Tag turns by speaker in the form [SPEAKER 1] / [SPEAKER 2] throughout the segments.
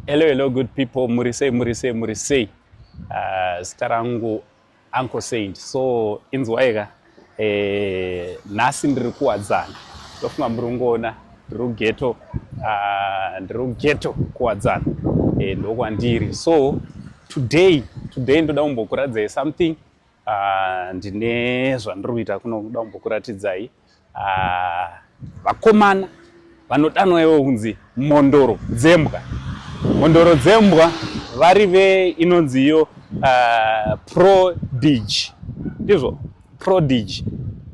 [SPEAKER 1] Hello, hello, good people. Murisei, murisei, murisei. Uh, zita rangu Uncle Saint. So, inzwaika. Eh, nhasi ndiri kuwadzana. Ndofunga muri kungoona ndiri kugeto. Uh, ah, ndiri kugeto kuwadzana. Eh, ndokwandiri. So, today, today ndoda kumbokuradzai something. Uh, ndine zvandiri kuita kuno kuda kumbokuratidzai. ah, vakomana vanodanwa ivo kunzi mhondoro dzembwa mhondoro dzembwa vari ve inonzi iyo uh, prodig ndizvo prodig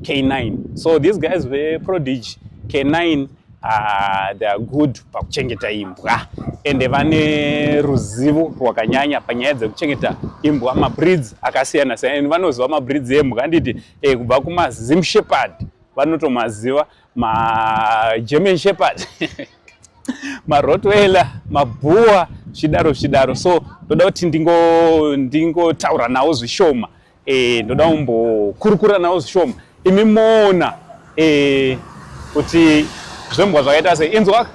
[SPEAKER 1] k9 so these guys veprodig k9 uh, ah, they are good pakuchengeta imbwa ende vane ruzivo rwakanyanya panyaya dzekuchengeta imbwa mabreeds akasiyana siyana and vanoziva mabreeds embwa handiti e, kubva kumazim shepherd vanotomaziva magerman shepherd marotweiler mabhuwa zvidaro zvidaro so ndoda kuti ndingotaura nawo zvishoma e, ndoda kumbokurukura nawo zvishoma imi moona e, kuti zvombwa zvakaita sei inzwa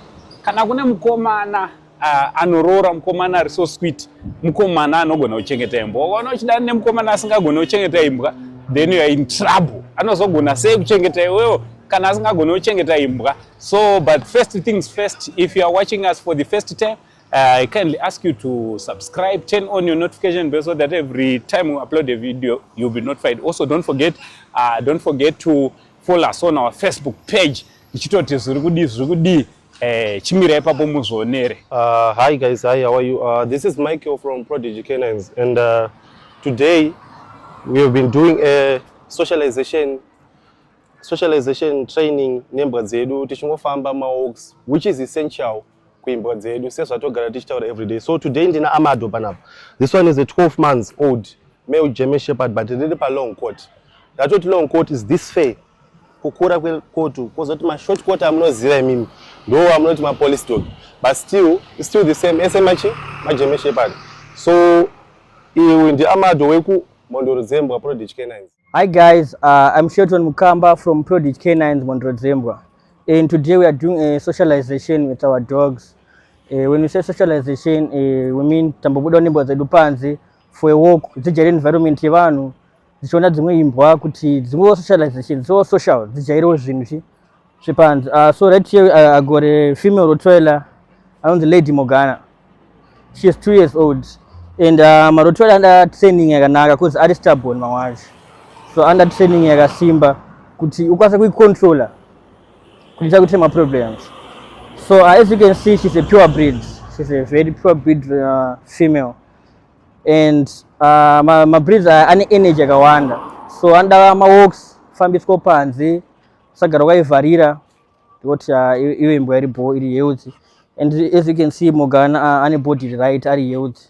[SPEAKER 1] kana kune mukomana uh, anoroora mukomana ari so sweet mukomana anogona kuchengeta imbwa ukaona uchidana nemukomana asingagone kuchengeta imbwa then youare in trouble anozogona sei kuchengeta iwewo kana asingagone kuchengeta imbwa so but first things first if you are watching us for the first time uh, i kindly ask you to subscribe turn on your notification bell so that every time we upload a video you'll be notified also don't forget uh, don't forget to follow us on our facebook page ichitoti zviri kudii zviri kudii Eh, chimira ipapo muzvionere. Uh, hi guys,
[SPEAKER 2] hi, how are you? Uh, this is Michael from Prodigy Canines and uh, today we have been doing a socialization socialization training nembwa dzedu tichingofamba mawalks which is essential kuimbwa dzedu sezvatogara tichitaura every day. So today ndina Amado panapa. This one is a 12 months old male German Shepherd but riri pa long coat. Ratoti long coat is this fair kukura kwekotu kwozoti mashort court amunoziva imimi ndo amunoti mapolice dog but still still the same ese machi majeme shepherd so iwe ndi amado weku mondoro dzembwa prodigy canines hi guys uh,
[SPEAKER 3] i'm shelton mukamba from prodigy canines mondoro dzembwa and today we are doing a socialization with our dogs uh, when we say socialization uh, we mean tambobuda nembwa dzedu panze for a walk dzijaira environment yevanhu dzichiona dzimwe imbwa kuti dzingowo socialization so social dzijairewo zvinhu chi zvepanzi uh, ah, so right here uh, ah, agore female rotoela anonzi lady mogana she is two years old and uh, marotoela anda training yakanaka bcause ari starborn mamwe acho so anda training yakasimba kuti ukwanise kuicontroller kuti chakuti maproblems so uh, as you can see she's a pure breed she's a very pure breed uh, female and uh, ma, ma breeds aya ane energy yakawanda so anoda ma walks kufambiswa panze usagara ukaivharira because uh, iwe imbwa iri bho iri healthy and as you can see Morgana uh, ane body right ari healthy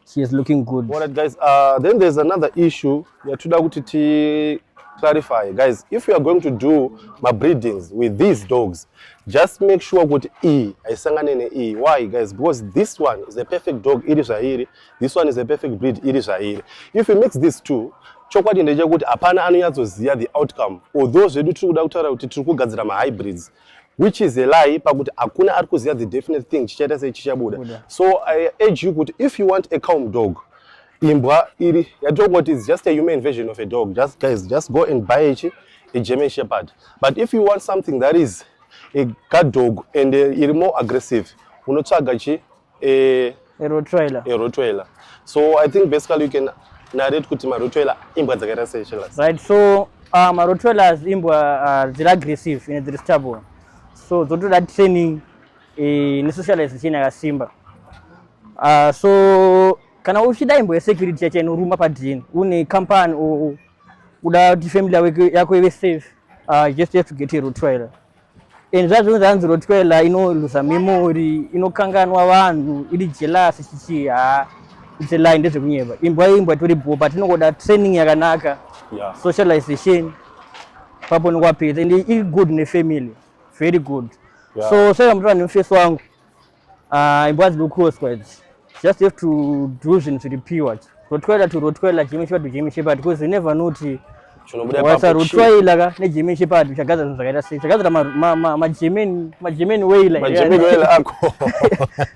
[SPEAKER 3] she is looking good. All right guys, uh, then
[SPEAKER 2] there's another issue yatoda kuti ti clarify guys if you are going to do mabreedings with these dogs just make sure kuti e haisangane nee why guys because this one is a perfect dog iri zvairi this one is a perfect breed iri zvairi if you mix these two chokwadi ndechekuti hapana anonyatsoziva the outcome although zvedu tiri kuda kutaura kuti tiri kugadzira mahybrids which is a lie pakuti hakuna ari kuziva the definite thing chichaita sei chichabuda so i urge you kuti if you want a calm dog imbwa iri yatongoti is just a human version of a dog just guys just go and buy ichi a german shepherd but if you want something that is a guard dog and uh, iri more aggressive unotsvaga chi a, a rottweiler a rottweiler so i think basically you can narrate kuti marottweiler imbwa dzakaita sei chelas right so
[SPEAKER 3] uh, marottweilers imbwa uh, dziri aggressive ine dziri stable so dzotoda training eh, nesocialization yakasimba uh, so Kana uchida imbo yesecurity yacho inoruma padn une company or uda kuti family yako ive safe uh, just have to get a rottweiler and zvazvinhu zvanzi rottweiler inoluza memory inokanganwa vanhu iri jealous chichii haa it's a lie ndezvekunyeba imbwa imbwa itori bho but inongoda training yakanaka yeah. socialization papo nokwapedza and iri good nefamily very good yeah. so saka mutova nemufesi wangu Ah, imbwa dziri kukotswa idzi. Just have to do zvinhu zviri pure. Rotwela to rotwela Jimmy Shepherd to Jimmy Shepherd because you never know kuti Chinobuda wasa ipapo chii? rotwela ka neJimmy Shepherd uchagadzira zvinhu zvakaita sei. Chagadzira ma- ma- ma- maJimmy maJimmy wailer. Majimini oil ako.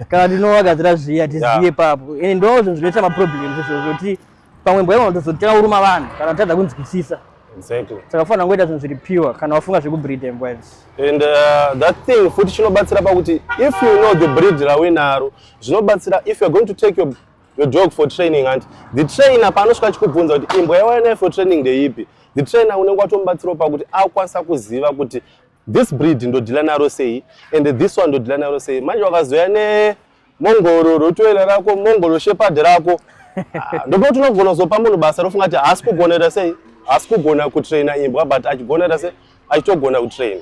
[SPEAKER 2] kana
[SPEAKER 3] ndinowagadzira zviya tizive Yeah. papo and ndo zvinhu zvinoita maproblems izvo zvokuti pamwe mbwa ivona tozotanga kuruma vanhu kana tatadza kunzwisisa exactly saka
[SPEAKER 2] kufanira kungoita zvinhu zviri
[SPEAKER 3] pure kana wafunga zvekubreeda imbwa izvi and uh,
[SPEAKER 2] that thing futi chinobatsira pakuti if you know the breed rawinaro zvinobatsira if youare going to take your, your dog for training and the trainer paanosvika achikubvunza kuti imbwa yawainayo for training ndeipi the trainer unenge watomubatsirawo pakuti akwanisa kuziva kuti this breed ndodhila naro sei and this one ndodhila naro sei manje wakazoya ne mongoro rotoera rako mongoro shepard rako ah, ndokuti unogona kuzopa munhu basa rofunga kuti haasi kugonera sei haasi kugona kutraina imbwa but achigonera sei achitogona kutraina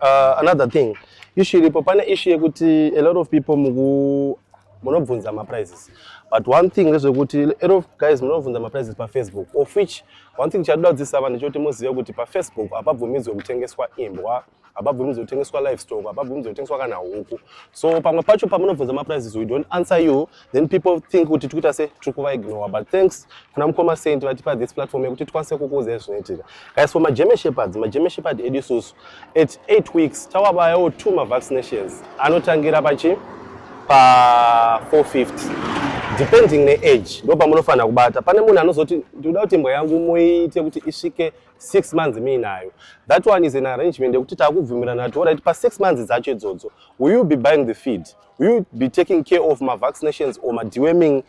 [SPEAKER 2] uh, another thing ishu iripo pane ishu yekuti a lot of people muku munobvunza maprizes but one thing ndezvekuti a lot of guys munobvunza maprizes pafacebook of which one thing chadoda kudzisa vanhu chekuti muzive kuti pafacebook hapabvumidzwe kutengeswa imbwa hapabvumidzwe kutengeswa livestock hapabvumidzwe kutengeswa kana huku so pamwe pacho pamunobvunza maprices we don't answer you then people think kuti tikuita se tiri kuvaignore but thanks kuna mukoma saint vatipa this platform yekuti tikwanise kukuuza zvinoitika guys for magerman shepherds magerman shepherd edu isusu at 8 weeks tawavayawo two mavaccinations anotangira pachi pa 450 depending neage ndo pamunofanira kubata pane munhu anozoti ndikuda kuti imbwa yangu muiite kuti isvike six months miinayo that one is an arrangement yekuti takubvumirana kuti orit pasix months dzacho idzodzo will you be buying the feed will you be taking care of mavaccinations or madeworming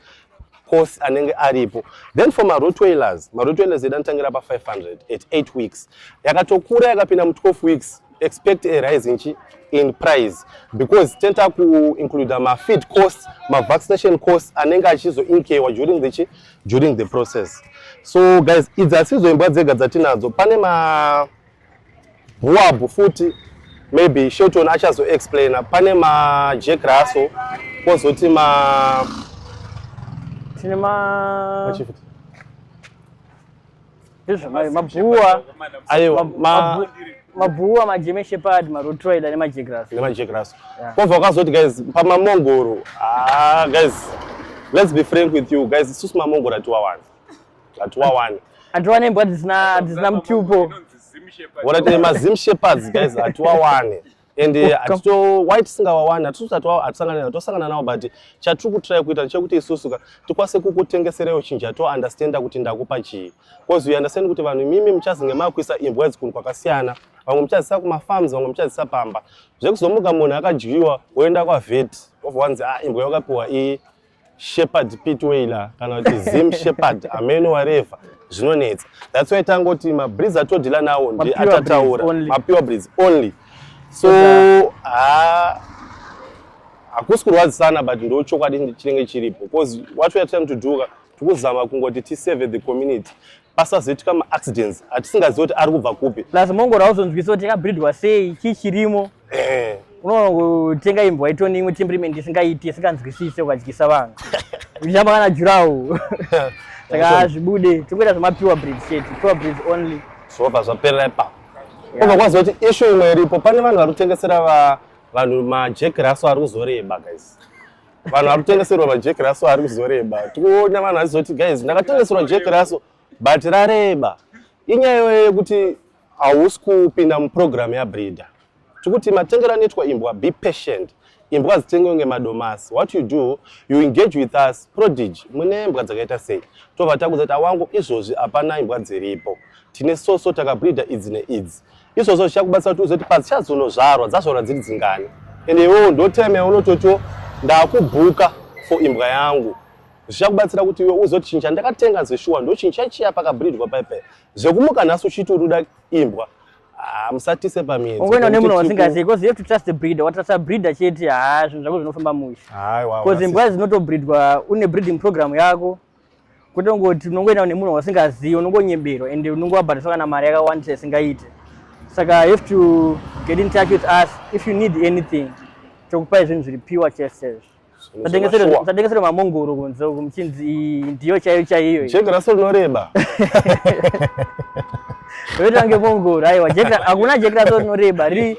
[SPEAKER 2] course anenge aripo then for marotwailers marotwailers edu anotangira pa500 at 8 weeks yakatokura yakapinda mu12 weeks expect a rise nchi in price because tenta kuincluda mafeed cost mavaccination cost anenge achizoinkewa during the during the process so guys idzi asidzo imbwa dzega dzatinadzo pane ma huabhu futi maybe shelton achazoexplaina pane majack raso kozoti ma tine ma
[SPEAKER 3] mabhuwa aiwa mabhuwa majeme shepherd marotroid ane majegras nemajegras kwobva wakazoti guys pamamongoro ah guys let's be frank with you guys isusu mamongoro atiwa wani atiwa wani atiwa nembwa dzisina dzisina mutupo wona tine
[SPEAKER 2] mazim shepherds guys atiwa wani and eh, hatito why tisingawawani hatisangana nao tosangana nao but chatiri kutry kuita ndechekuti isusu ka tikwanise kukutengeserewo chinji hatounderstanda kuti ndakupa chii bcause uunderstand kuti vanhu imimi muchazinge makuisa imbwa idzi kunhu kwakasiyana vamwe muchazisa kumafarms vamwe muchazisa pamba zvekuzomuka munhu akadyiwa woenda kwavet wobva wanzi a ah, imbwa yakapiwa iyi shepherd pitwayla kana kuti zim shepherd ameno wareva zvinonetsa that's why tangoti mabreeze atodila nawo ndi atataura mapure breeze only so ha hakusi kurwadzisana but ndo chokwadi chinenge chiripo because what weare trying to do tikuzama kungoti tisave the community pasazoitika maaccidents atisingazivi kuti ari kubva kupi plus mongoro auzonzwisa
[SPEAKER 3] kuti yakabridwa sei chii chirimo eh. unoona kutenga imbwa itoni imwe temperament isingaiti isinganzwisise ukadyisa vanhu uchitamba kana jurawo saka hazvibude tingoita zvemapiwa breed shet piwa breed only zvobva zvaperera
[SPEAKER 2] ipapo obva kwaziva kuti ishu imwe iripo pane vanhu vari kutengesera vanhu majekiraso ari kuzoreba guys vanhu vari kutengeserwa majeki raso ari kuzoreba tikuona vanhu vachizoti guys ndakatengeserwa jeki raso but rareba inyaya iyoyo yekuti hausi kupinda muprogramu yabreeder tikuti matengero anoitwa imbwa be patient imbwa hadzitengwe kunge madomasi what you do you engage with us prodige mune mbwa dzakaita sei tobva takuza kuti awangu izvozvi hapana imbwa dziripo tine soso takabreeder idzi neidzi izvozvo zvichakubatsira kuti uzoti padzichatozonozvarwa dzazvarwa dziri dzingani and iwewo ndoteme unototiwo ndakubhuka for imbwa yangu zvichakubatsira kuti iwe uzoti chinhu chandakatenga zeshuwa ndochinhu chaichiya pakabridwa paipe zvekumuka nhasi uchiti uri kuda imbwa ah, musatise pamiedzoungena nemunhu wasingazivi
[SPEAKER 3] bcause you have to trust the breeder watrasta breeder chete haa zvinhu zvako zvinofamba mushe bcause imbwa dzinotobridwa une breeding program yako kwete kungoti unongoenda nemunhu wasingazivi unongonyebero and unongovabhadhisa kana mari yakawandisa isingaite saka have to get in touch with us if you need anything tokupai zvinhu zviri piwa chese zvatengeserwa mamongoro kunze uku muchinzi ndiyo chaiyo chaiyo jeka raso rinoreba vetange mongoro aiwa hakuna jeki raso rinoreba riri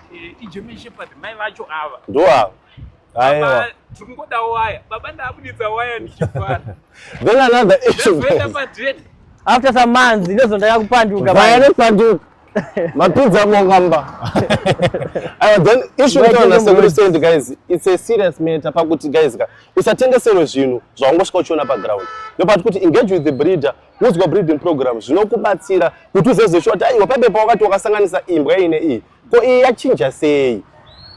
[SPEAKER 1] Eh, iGerman Shepherd
[SPEAKER 2] mai vacho ava. Ndoava. Aiwa. Tikungoda
[SPEAKER 1] waya. Baba ndabuditsa waya ndichifara. Then another
[SPEAKER 2] issue. Ndoenda padate.
[SPEAKER 3] After some months ndozondaka kupanduka. Vaya nekupanduka.
[SPEAKER 2] mapinza mongamba aiwa then issue itaona sekuri send guys it's a serious matter pakuti guys ka usatengeserwe zvinhu zvawangosvika uchiona paground ndopati kuti engage with the breeder Udzwa breeding program zvinokubatsira kuti uzezeshuwa kuti aiwa paibe pawakati wakasanganisa imbwa iyi neiyi ko iyi yachinja sei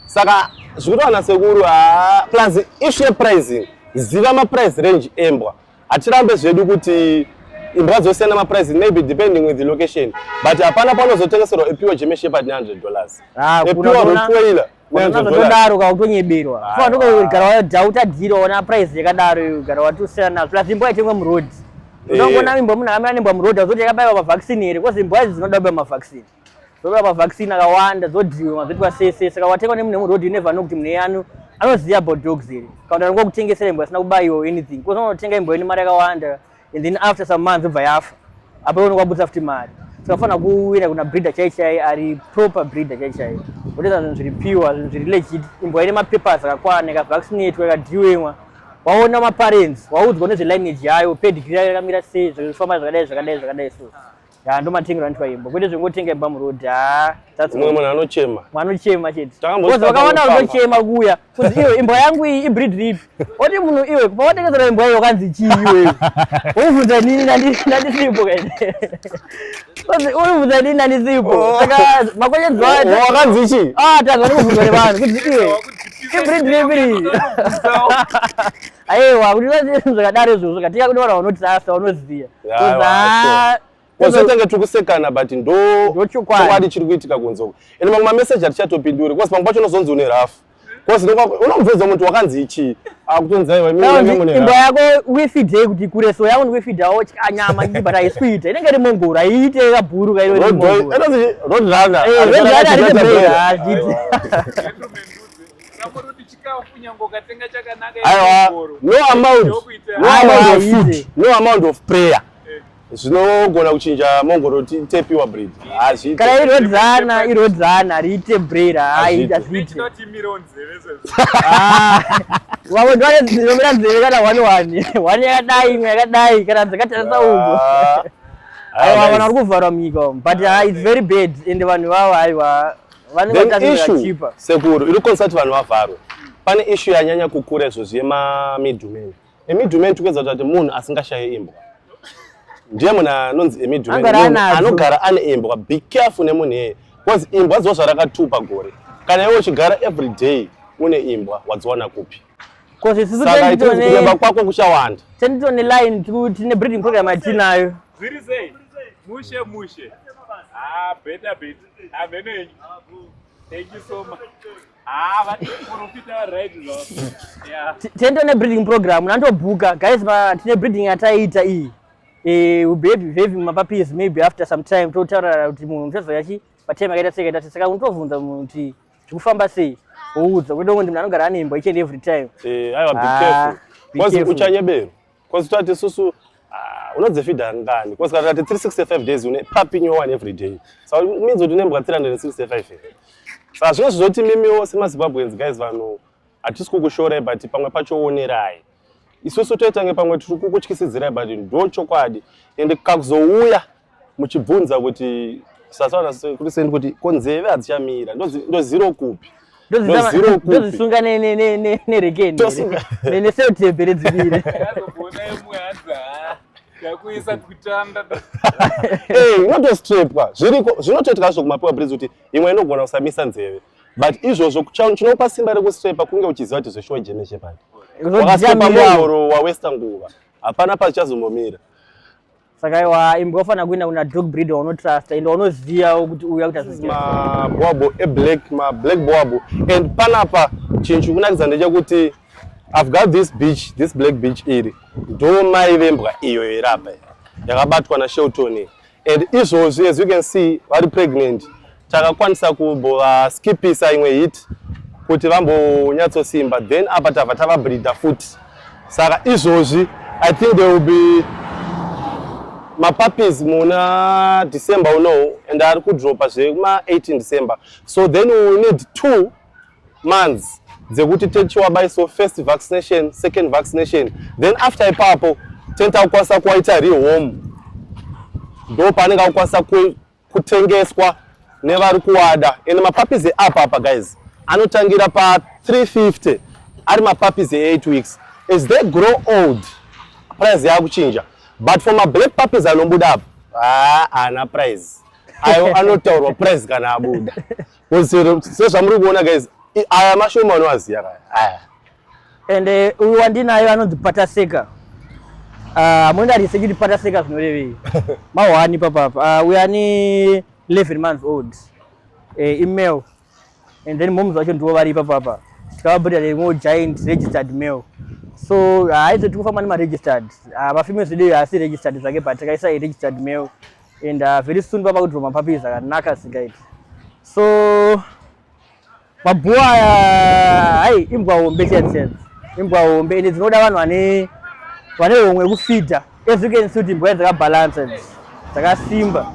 [SPEAKER 2] saka zvikutowana sekuru haa plus issue yepricing ziva maprice range embwa hatirambe zvedu kuti imbwa dzosiyana maprice maybe depending with the location but hapana panozotengeserwa epiwa jemeshepard 900 dollars ah, epiwa rotoiler ndodaro
[SPEAKER 3] utonyeberwa gara wadhauta dhiro ona price yakadaro gara wati usiyana nazvo plus imbwa itengwa muroad eh. unongona imbwa munhu akamira nembwa muroad azoti yakabaiwa mavaccine here bcause imbwa idzi dzinoda kubaiwa mavaccine dzobaiwa mavaccine akawanda dzodhiwa mazoitwa sese saka watengwa nemunhu wemuroad unevano kuti munhu eyanu anoziva about dogs here kana kuti anokutengesera imbwa asina kubaiwa anything bcause unotenga imbwa ine mari yakawanda and then after some months obva yafa apa iwe unokwabudisa futi mari tikafanira kuwira kuna breeder chai chai ari proper breeder chai chai wotoita zvinhu zviri pure zvinhu zviri legit imbwa ine mapapers akakwana ikavaccinatwa ikadhiwemwa waona maparents waudzwa nezvelineage yayo pedigree yayo yakamira sei zvekufamba zvakadai zvakadai zvakadai so ya ndomatengera anoitwa imba kwete zvingotenga imba muroad ha umwe munhu
[SPEAKER 2] anochema anochema chete
[SPEAKER 3] bcause vakaona unochema kuya kuzi iwe imbwa yangu iyi ibreed rip oti munhu iwe pawatengesera imbwa iyo kanzi chii iwewe unibvunza nini nandisipo kaini unibvunza nini nandisipo oh. saka makwenyedzi wakanzi oh, chii
[SPEAKER 2] ah tanzwa nekubvunzwa nevanhu
[SPEAKER 3] kuti iwe ibreed rip iri Aiwa, kuti zvakadaro izvozvo zvakatika kune vanhu vanotirasa vanoziva. Kozotenge
[SPEAKER 2] tiri kusekana but ndo chokwadi chiri kuitika kunze uko. Ende mamwe mameseji hatichatopinduri kozi pamwe pacho unozonzi une rafu. Kozi unobvunza muntu wakanzi ichii akutonzi aiwa imba yako
[SPEAKER 3] wifidhei kuti kure so yako ndikuifidhawo nyama iyi but haisi kuita inenge iri mongoro haiite kabhuru kairo
[SPEAKER 1] aiwa
[SPEAKER 2] no amount no amount of food no amount of prayer eh. zvinogona kuchinja mongoro tepiwa bread hazviite kana
[SPEAKER 3] irodzana irodzana riite bread haita zviite vamwe ndivane dzinomira nzeve kana one one one yakadai imwe yakadai kana dzakatarisa uko ah. aiwa vanhu vari kuvharwa munyika umu but ah, its very bad ende vanhu vavo aiwa then issue sekuru iri kukonzersa kuti
[SPEAKER 2] vanhu vavharwe pane issue yanyanya kukura izvozvi yemamidhumen emidhumen tikuedza kuti munhu asingashaye imbwa ndiye munhu anonzi emidhumen anogara ane imbwa be careful nemunhu iyeye bcause imbwa dziwa zvarakatupa gore kana iwe uchigara every day une imbwa wadziwana kupi saka itikureba kwako kuchawanda tenditone line
[SPEAKER 3] tine breeding program atinayo
[SPEAKER 1] mushe mushe ah, beta beta Amen enyu. Thank you so much. Ah, but profita right now. Yeah. Tendo ne breeding
[SPEAKER 3] program nandobuka guys ba tine breeding yataita iyi. Eh, we be having my puppies maybe after some time to tell her kuti munhu uchazoya chi patema kaita seka tati saka untovunza munhu kuti zvikufamba sei. Oudza kuti ndongo ndimna anogara anemba each and every time. Eh, aiwa be ah,
[SPEAKER 2] careful. Kwazi uchanyebero. Cause tati susu ah, unodzifida ngani cause kana tati 365 days une papi new one every day so it means kuti unembwa 365 here sa zvino zvizoti mimiwo semazimbabweans guys vanhu hatisi kukushorai but pamwe pacho onerai isusu toitange pamwe tiri kukutyisidzirai but ndo chokwadi ende kakuzouya muchibvunza kuti sasana kuti sendi kuti ko nzeve hadzichamira ndoziro kupi ndozisunga
[SPEAKER 3] nerekeni nesetebhe
[SPEAKER 1] redzivire unotostrepwa
[SPEAKER 2] zviriko zvinotoitika zvo kumapiwa bridge kuti imwe inogona kusamisa nzeve but izvozvo chinopa simba rekustrepa kunge uchiziva kuti zveshuwa jeme chepati wakastrepa muhoro wawesta nguva hapana pazichazombomira saka
[SPEAKER 3] iwa imbwa ufanira kuenda kuna dog breeder waunotrusta ende waunoziva kuti uya kuita mabhoabho
[SPEAKER 2] eblack mablack boabho and panapa chinhu chikunakidza ndechekuti i've got this beach this black beach iri ndo mai vembwa iyo iri apa yakabatwa nashelton and izvozvi as you can see vari pregnant Takakwanisa kubova skipisa imwe hit kuti vambonyatsosimba then apa tava tava breeder futi saka izvozvi i think there will be mapuppies muna december unowu and ari kudropa zvekuma 18 december so then we will need two months dzekuti techiwabaiso first vaccination second vaccination then after ipapo tenta kukwanisa kuwaita rehome ndo paanenge akukwanisa kutengeswa nevari kuwada ende mapapizi eapa apa guys anotangira pa 350 ari mapapizi e8 weeks as they grow old price yakuchinja but for mablack puppies anobuda apa haana price ayo anotaurwa price kana abuda sezvamuri kuona guys aya mashoma anoaziya kaya and
[SPEAKER 3] eh, uyu uh, wandinayo anonzi pataseka hamuna ah, uh, riseki kuti pataseka zvinorevei mahwani papapa uh, ah, uyu ani 11 months old eh, email and then moms vacho ndivo vari ipapapa tikavabhadhara imwewo giant registered mail so haizo uh, tikufamba nemaregistered uh, mafimeo zvideyo haasi registered zvake but takaisa registered mail and uh, very soon papa kudhirwa mapapis akanaka singaiti so Mabhuwa hai imbwa hombe chaisense. Imbwa hombe ende dzinoda vanhu vane vane homwe kufida. As you can see kuti imbwa dzakabalansa idzi. Dzakasimba.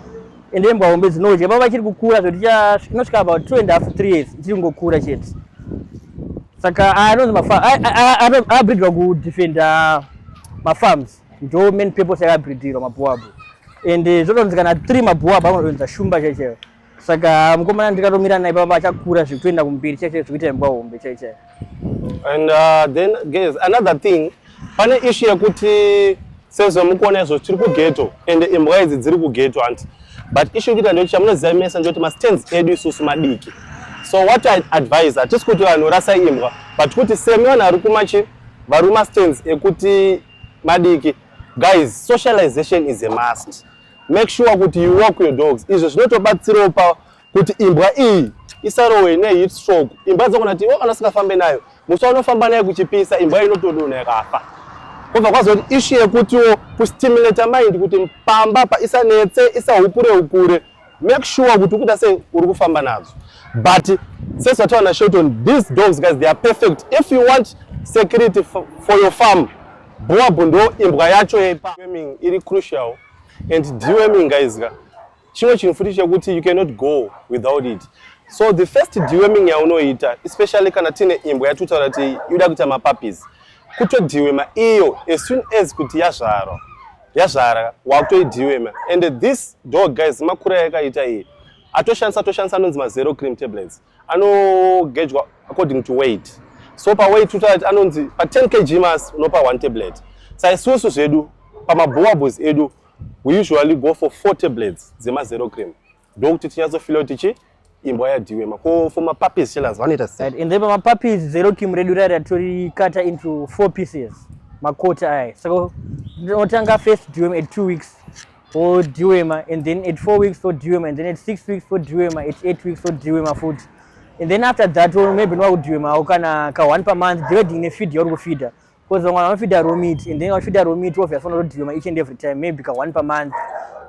[SPEAKER 3] Ende imbwa hombe dzinodya baba chiri kukura zvoti inosvika about 2 and half 3 years chiri kungokura chete. Saka anonzi mafa abridwa kudefenda mafarms ndo main purpose yakabridhirwa mabhuwa abo. Ende zvotonzi kana 3 mabhuwa abo anodonza shumba chaichaiyo. saka mukomana ndikatomira naye papa achakura zvekutoenda kumberi chaiche zvekuita imbwa hombe chaiche and
[SPEAKER 2] uh, then guys another thing pane issue yekuti sezvamukuona izvo tiri kugeto and imbwa idzi dziri kugeto hanti but issue yekuita ndekuti chamunoziva mese ndekuti mastands edu isusu madiki so what i advise hatisi kuti vanhu rasa imbwa but kuti semi vanhu vari kumachi vari mastands ekuti madiki guys socialization is a must Make sure kuti you walk your dogs. Izvo zvinotobatsirawo pa kuti imbwa iyi isarowe ne heat stroke. Imbwa dzogona kuti oh, anasikafambe nayo. Musi wanofamba nayo kuchipisa imbwa inotodona yakafa. Kobva kwazoti issue yekutiwo kustimulate mind kuti pamba pa isanetse isahukure hukure. Make sure kuti ukuita sei uri kufamba nadzo. But since wataona Shelton, these dogs guys they are perfect. If you want security for your farm Boab ndo imbwa yacho yepa deworming iri crucial and deworming guys ka chimwe chinhu futi chekuti you cannot go without it so the first deworming yaunoita especially kana tine imbwa yatutaura kuti yoda kuita mapuppies kutodhiwema iyo as soon as kuti yazvarwa yazvara wakutoidhiwema and this dog guys makura yakaita iyi atoshandisa atoshandisa anonzi mazero cream tablets anogejwa according to weight so paweight utat anonzi pa 10 kg mass unopa one tablet saisusu zvedu pamabowables edu we usually go for four tablets dzemazero cream ndokuti tinyatsofila kuti chi imbwa yadhiwema ko for mapuppies chelas vanoita sei and then pamapuppies
[SPEAKER 3] zero cream redu rari atorikata into four pieces makota aya saka tinotanga first dwm at two weeks for Dewema and then at four weeks for Dewema and then at six weeks for Dewema at eight weeks for Dewema food and then after that or maybe no Dewema or kana ka one per month depending ne feed your feeder because vamwe vanofida raw meat and then vachifida raw meat obviously vanoda Dewema each and every time maybe ka one per month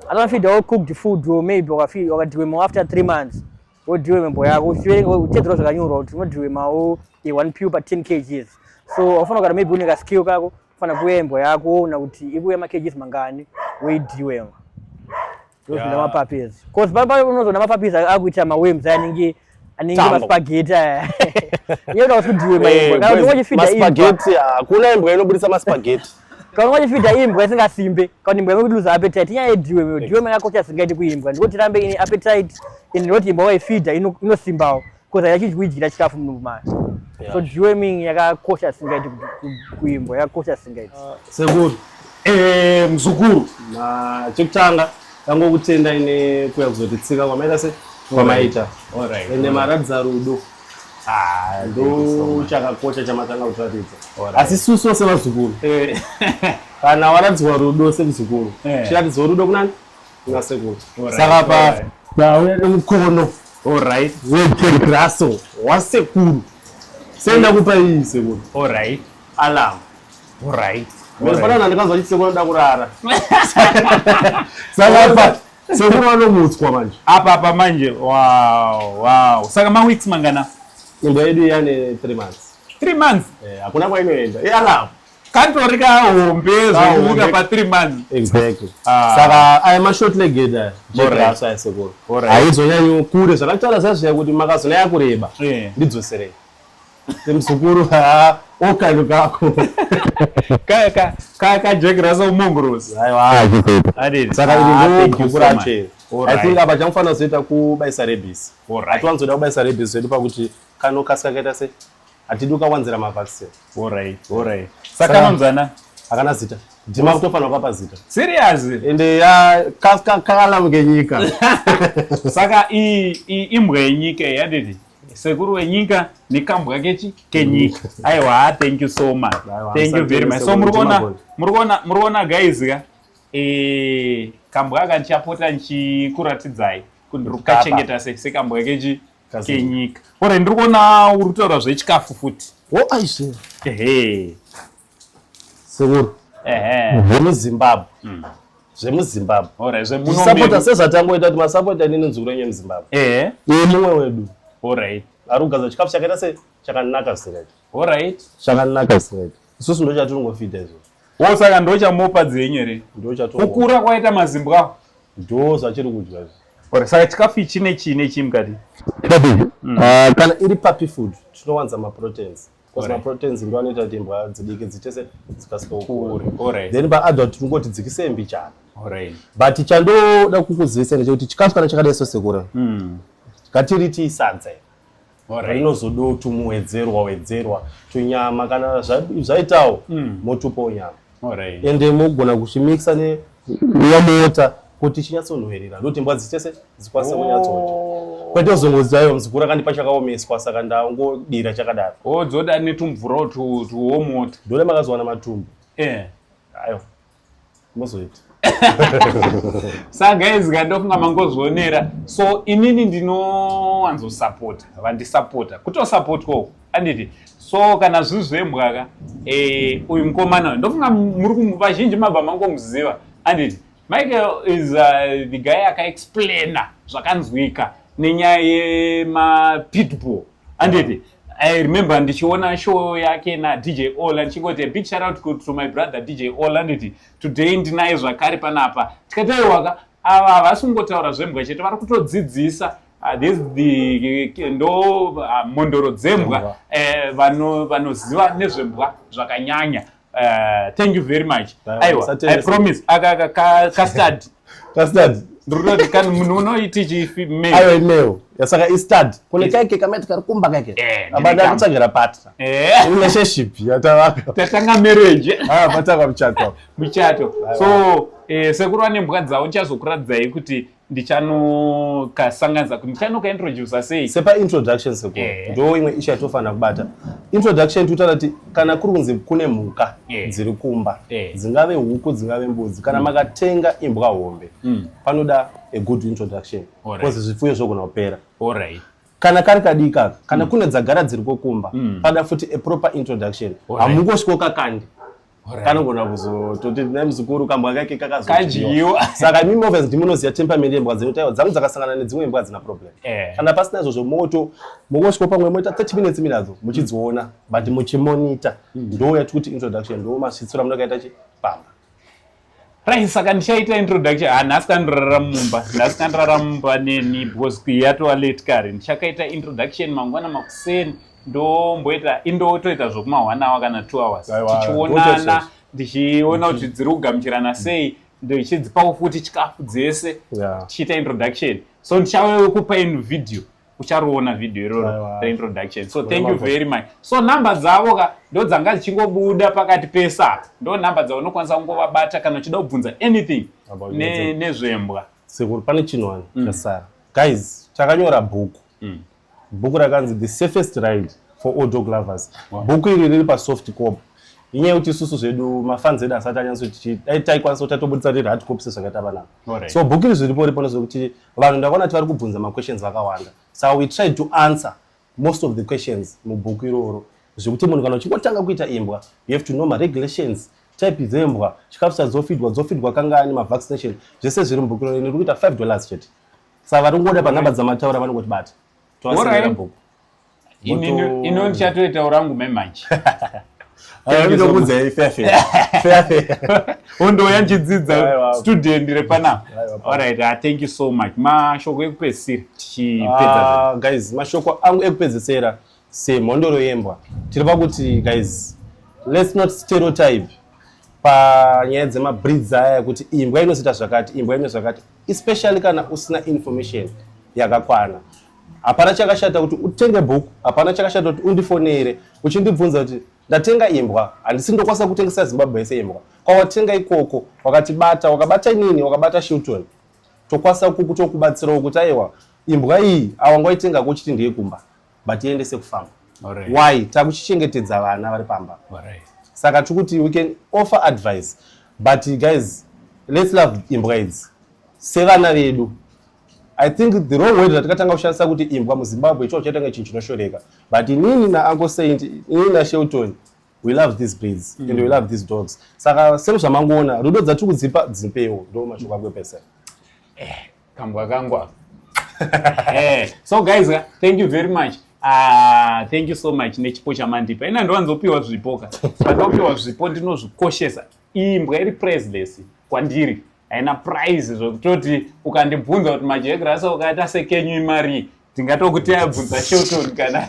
[SPEAKER 3] anofida all cooked food or maybe wakafida wakadewema after three months or Dewema mbo yako uchitedzera zvakanyorwa kuti unodewema o one pure per 10 kgs so wafana kana maybe une ka skill kako Fana kuuya mbwa yako woona kuti ikuuya makgs mangani woidhiwe ndozvina mapapezi bcause papa unozoona mapapezi akuita mawems anenge anenge maspageti aya iye uda kusudiwe maspageti hakuna
[SPEAKER 2] imbwa inobudisa maspageti kana wachifidha
[SPEAKER 3] imbwa isingasimbe kana imbwa yave kutiluza appetite inyaya yedhiwe meyo dhiwe maya kocha singaiti kuimbwa ndiko tirambe ine appetite and not imbwa waifidha inosimbawo Because hayachichi kuidyira chikafu mudumbu mayo. So deworming yakakosha singaiti kuimbwa yakakosha singaiti. Ah, sekuru.
[SPEAKER 2] Eh mzukuru. Na chekutanga tango kutenda ine kuya kuzotitsika kwamaita se kwamaita. All right. Ende
[SPEAKER 1] maradza rudo.
[SPEAKER 2] Ah, ndo chakakosha chamatanga kutaridza. Asi susu sevazukuru. Eh. Kana waradzwa rudo semzukuru. Eh. Chiratidzo rudo kunani? saka pauya nemukono orit wegraso wasekuru senda kupa iyi sekuru orit alam orit
[SPEAKER 1] mirifanana ndikanzwa
[SPEAKER 2] chiti sekuru anoda kurara saka apa sekuru vanomutswa manje apa apa manje
[SPEAKER 1] wow wow saka maweeks mangana imba yedu
[SPEAKER 2] yane three months three months eh,
[SPEAKER 1] hakuna kwainoenda
[SPEAKER 2] ialamu Katori
[SPEAKER 1] kahombe zvekuita pa 3 months. Exactly. Ah.
[SPEAKER 2] Saka aya ma short legged aya. Jegrass aya sekuru. Haizonyanyo kure zvakataura zazviya kuti makazona yakureba. Eh. Ndidzoserei. Mzukuru ha okalo kako. Kaya ka kaya
[SPEAKER 1] ka jegrass umongorozi. Aiwa. Adini.
[SPEAKER 2] Saka ah, ndingo kukura chero. I think apa chamufanira kuzoita kubaisa rebisi. Hatiwanzoda kubaisa rebisi zvedu pakuti kanokasika kaita sei? hatidi ukawanzira mavaccine alright alright
[SPEAKER 1] saka anonzana akana zita
[SPEAKER 2] ndima kutofanira kapa zita serious ende
[SPEAKER 1] ya
[SPEAKER 2] kakalamu kenyika saka
[SPEAKER 1] imbwa yenyika yadidi sekuru wenyika nekambwa kechi kenyika mm. aiwa thank you so much thank you very much so muri kuona muri kuona muri kuona guys ka eh kambwa aka ndichapota ndichikuratidzai kuti ndiri kukachengeta sekambwa kechi kenyika ore ndiri kuona uri kutaura zvechikafu futi wo aizve
[SPEAKER 2] ehe sekuru ehe zvemuzimbabwe mm. zvemuzimbabwe ore zvemunosapota
[SPEAKER 1] sezvatangoita
[SPEAKER 2] kuti masapota nini nzukuru yenyu yemuzimbabwe ehe uye mumwe wedu orit ari
[SPEAKER 1] kugaza chikafu chakaita
[SPEAKER 2] se chakanaka zvisingaiti orit
[SPEAKER 1] chakanaka zvisingaiti
[SPEAKER 2] isusu ndo chatiringofida izvozvo wo saka ndochamupa
[SPEAKER 1] dzenyu here kukura
[SPEAKER 2] kwaita mazimbwa
[SPEAKER 1] awo ndo zvachiri
[SPEAKER 2] kudya izvi or saka chikafu ichi
[SPEAKER 1] nechii nechii mukati babi mm. ah,
[SPEAKER 2] kana iri papi food tinowanza maproteins because maproteins ndo anoita kuti imbwa dzidiki dzichese dzikasika kukura then paadult
[SPEAKER 1] tinongoti
[SPEAKER 2] dzikise mbichana but
[SPEAKER 1] chandoda
[SPEAKER 2] kukuzivisai ndechekuti chikafu kana chakadai sosekura mm. ngatiriti sadza inozodawo tumuwedzerwa wedzerwa tunyama kana zvaitawo hmm. motupawo nyama ende mogona kuchimixa neyamota kuti chinyatsonhuhirira ndokuti mbwa dzichese dzikwanise kunyatsoda oh. kwete uzongozivayo mzukuru akandipa chakaomeswa saka ndangodira chakadaro odzoda oh,
[SPEAKER 1] netumvurawo tuwomota ndode makazowana
[SPEAKER 2] matumbu eh. ayo mozoita
[SPEAKER 1] sa guys ka ndofunga mangozvionera so inini ndinowanzosapota vandisapota kutosapotwa uku anditi so kana zviri zvembwaka e, eh, uyu mukomana ndofunga muri vazhinji mabva mangomuziva anditi michael is uh, the guy akaexplaina zvakanzwika nenyaya yemapitbull anditi I remember ndichiona show yake na DJ Ola ndichingoti a big shout out to, to my brother DJ Ola nditi today ndinaye zvakare panapa tikati aiwaka ava havasi kungotaura zvembwa chete vari kutodzidzisa Ah, this the ndo ah, mhondoro dzembwa eh, vanoziva nezvembwa zvakanyanya Uh, thank you very much aiwa i promise aka aka ka custard custard ndroti kan munhu unoiti chifi me ayo ineo yasaka
[SPEAKER 2] i stad kune kaike kamati kari kumba kaike eh, abada kutsvagira partner eh relationship yatavaka tatanga marriage
[SPEAKER 1] ah pataka muchato
[SPEAKER 2] muchato so
[SPEAKER 1] eh sekuru ane mbwa dzawo ndichazokuradzai kuti ndichanokasanganisa kuti ndichanokaintrodusa sei sepaintroduction seko
[SPEAKER 2] yeah. ndo imwe ishu yatinofanira kubata introduction tinotaura kuti kana kuri kunzi kune mhuka yeah. dziri kumba yeah. dzingave huku dzingave mbudzi kana mm. makatenga imbwa hombe mm. panoda a good introduction bcause right. zvipfuyo zvogona kupera right
[SPEAKER 1] kana kari kadika
[SPEAKER 2] kana mm. kune dzagara dziri kokumba mm. pada futi a proper introduction hamungosviko kakandi kanogona kuzototi na muzukuru kambwa kake kakazodyiwa
[SPEAKER 1] saka imi movers
[SPEAKER 2] ndimunoziva temperament yembwa dzino taiwa dzangu dzakasangana nedzimwe mbwa dzina problem eh. kana pasina izvozvo moto mongosviko pamwe moita 30 minutes minadzo muchidziona but muchimonita hmm. ndo yatikuti introduction ndo masvitsura munakaita chi pamba
[SPEAKER 1] Right, saka ndichaita introduction ah nhasi kandirara mumba nhasi kandirara mumba neni because yatova late kare ndichakaita introduction mangwana makuseni ndomboita indotoita zvokuma one hour kana two hours tichionana ndichiona kuti dziri kugamuchirana sei ndichidzipawo futi chikafu dzese tichiita introduction so ndichave kupa in video uchariona video iroro reintroduction so thank you very much so number dzavo ka ndo dzanga dzichingobuda pakati pesa ndo number dzavo unokwanisa kungovabata kana uchida kubvunza anything nezvembwa sekuru pane
[SPEAKER 2] chinhu wani mm. chasara guys chakanyora bhuku mm. bhuku rakanzi the safest ride for all dog lovers bhuku iri riri pasoft cop inyaya yekuti isusu zvedu mafans edu asati anyatso tichidai taikwanisa kuti tatobudisa riri hard copse zvakaita vanavo Alright. so book iri zviripo ripo nezvekuti vanhu ndakaona kuti vari kubvunza maquestions akawanda so we tried to answer most of the questions mubhuku iroro zvekuti munhu kana uchingotanga kuita imbwa you have to know maregulations type dzembwa chikafu chadzofidwa dzofidwa kangani mavaccination zvese zviri mubhuku iroro ine rikuita five dollars chete saka vari kungoda panhamba dzamataura vanongoti bata tovasinira Alright. bhuku
[SPEAKER 1] ino ndichatoitawo rangu memanje
[SPEAKER 2] ndokuudzai fefe fefe ondouya
[SPEAKER 1] ndichidzidza student repanapa alright uh, thank you so much mashoko ekupedzisira tichipedza uh, guys mashoko
[SPEAKER 2] angu ekupedzisira semhondoro yembwa tiri pakuti guys let's not stereotype panyaya dzemabreeds aya kuti imbwa inozoita zvakati imbwa ino zvakati especially kana usina information yakakwana hapana chakashata kuti utenge bhuku hapana chakashata kuti undifonere uchindibvunza kuti ndatenga imbwa handisi ndokwanisa kutengesa zimbabwe yese imbwa kwawatenga ikoko wakatibata wakabata nini wakabata shilton tokwanisa kukutokubatsirawo kuti aiwa imbwa iyi awangoitenga kuchiti ndiye kumba but tiendese kufarm right. why takuchichengetedza vana vari pamba right. saka tiri kuti we can offer advice but guys let's love imbwa idzi sevana vedu i think the wrong word ratakatanga kushandisa kuti imbwa muzimbabwe icho chaitanga chinhu chinoshoreka but inini naanko saint inini nashelton we love these breeds mm. and we love these dogs saka sero zvamangoona rudo dzatiri kudzipa dzipewo ndo mashoko akwepesa eh. kambwa kangu
[SPEAKER 1] aka eh, so guys thank you very much Ah, thank you so much nechipo chamandipa ina ndiwanzopiwa zvipo ka pandopiwa zvipo ndinozvikoshesa imbwa iri priceless kwandiri haina prize zvekutoti ukandibvunza kuti majegrasa ukaita sekenyu imari tingatokuti abvunza shelton kana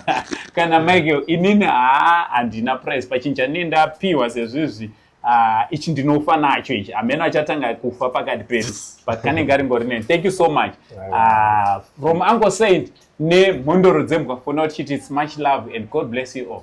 [SPEAKER 1] kana michael inini haa handina price pachinja ne ndapiwa sezvizvi Ah, ichi ndinofa nacho ichi ameno achatanga kufa pakati pedu but kanenge karingori neni thank you so much uh, from uncle saint nemhondoro dzembwa fona tichiti it's much love and god bless you all